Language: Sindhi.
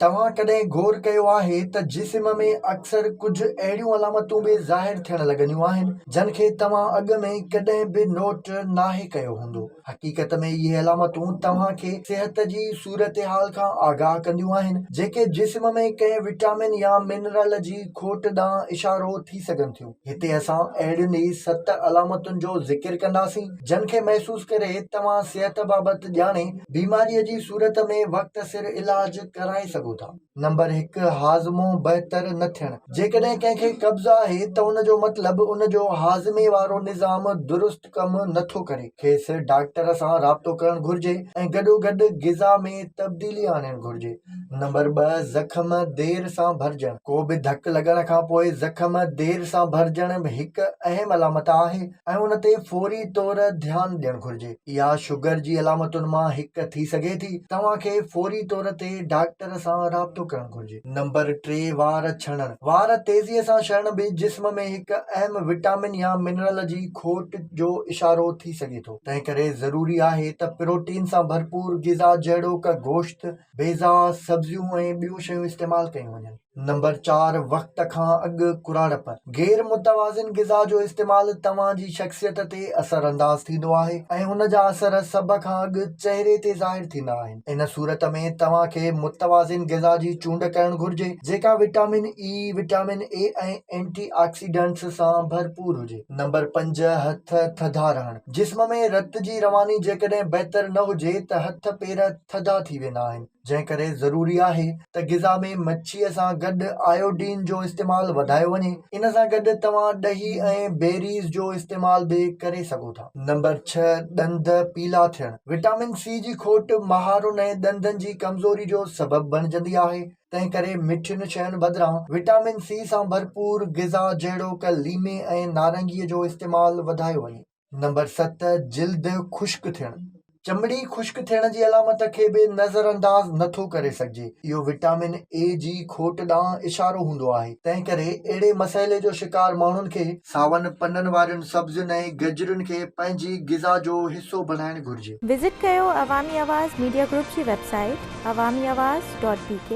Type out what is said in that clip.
توهان ڪڏهن غور ڪيو آهي ته جسم ۾ اڪثر ڪجهه اهڙيون علامتون به ظاهر ٿيڻ لڳنديون آهن، جن کي توهان اڳ ۾ ڪڏهن به نوٽ ناهي ڪيو هوندو. حقيقت ۾ اهي علامتون توهان کي صحت جي صورتحال کان آگاهه ڪنديون آهن، جيڪي جسم ۾ ڪنهن وٽامن يا منرل جي کوٽ ڏانهن اشارو ٿي سگهن ٿيون. هتي اسان اهڙين ئي ست علامتن جو ذڪر ڪنداسين، جن کي محسوس ڪري توهان صحت بابت ڄاڻي بيماريء جي صورت ۾ وقت سر علاج ڪرائي سگهو ٿا. نمبر هڪ، هاضمو بهتر نه ٿيڻ، جيڪڏهن ڪنهن کي قبض آهي ته ان جو مطلب ان جو هاضمي وارو نظام درست ڪم نه ٿو ڪري کيس ڊاڪٽر سان رابطو ڪرڻ گهرجي ۽ گڏوگڏ غذا ۾ تبديلي آڻڻ گهرجي نمبر ٻه زخم دير سان ڀرجڻ ڪو به ڌڪ لڳڻ کان پوء زخم دير سان ڀرجڻ به هڪ اهم علامت آهي ۽ ان تي فوري طور ڌيان ڏيڻ گهرجي اها شگر جي علامتن مان هڪ ٿي سگهي ٿي توهان کي فوري طور تي ڊاڪٽر سان رابطو ڪرڻ گهرجي. نمبر ٽي، وار ڇڻڻ، وار تيزيء سان شڻڻ به جسم ۾ هڪ اهم وٽامن يا منرل جي کوٽ جو اشارو ٿي سگهي ٿو، تنهنڪري ضروري آهي ته پروٽين سان ڀرپور غذا جهڙوڪ گوشت، بيضا، سبزيون ۽ ٻيون شيون استعمال ڪيون وڃن. نمبر چار، وقت کان اڳ ڪراڙپ، غير متوازن غذا جو استعمال توهان جي شخصيت تي اثر انداز ٿيندو آهي ۽ ان جا اثر سڀ کان اڳ چهري تي ظاهر ٿيندا آهن. ان صورت ۾ توهان کي متوازن غذا جي چونڊ ڪرڻ گهرجي، جيڪا vitamin A, vitamin A ۽ antioxidants سان ڀرپور هجي. نمبر پنج، هٿ ٿڌا رهڻ، جسم ۾ رت جي رواني جيڪڏهن بهتر نه هجي ته هٿ پير ٿڌا ٿي ويندا آهن، جنهن ڪري ضروري آهي ته غذا ۾ مڇيء سان گڏ آيوڊين جو استعمال وڌايو وڃي، ان سان گڏ توهان ڏهي ۽ بيريز جو استعمال به ڪري سگهو ٿا. نمبر ڇهه، ڏند پيلا ٿيڻ، وٽامن سي جي کوٽ مهارن ۽ ڏندن جي ڪمزوري جو سبب بڻجندي آهي، تنهن ڪري مٺين شين بدران وٽامن سي سان ڀرپور غذا جهڙوڪ ليمي ۽ نارنگي جو استعمال وڌايو وڃي. نمبر ست، جلد خشڪ ٿيڻ، چمڙي خشڪ ٿيڻ جي علامت کي به نظر انداز نه ٿو ڪري سگهجي. اهو وٽامن اي جي کوٽ ڏانهن اشارو هوندو آهي، تنهن ڪري اهڙي مسئلي جو شڪار ماڻهن کي، ساون پنن وارين سبزين ۽ گجرين کي پنهنجي غذا جو حصو بڻائڻ گهرجي. وزٽ ڪيو عوامي آواز ميڊيا گروپ جي website Awami Awaz dot بي ڪي.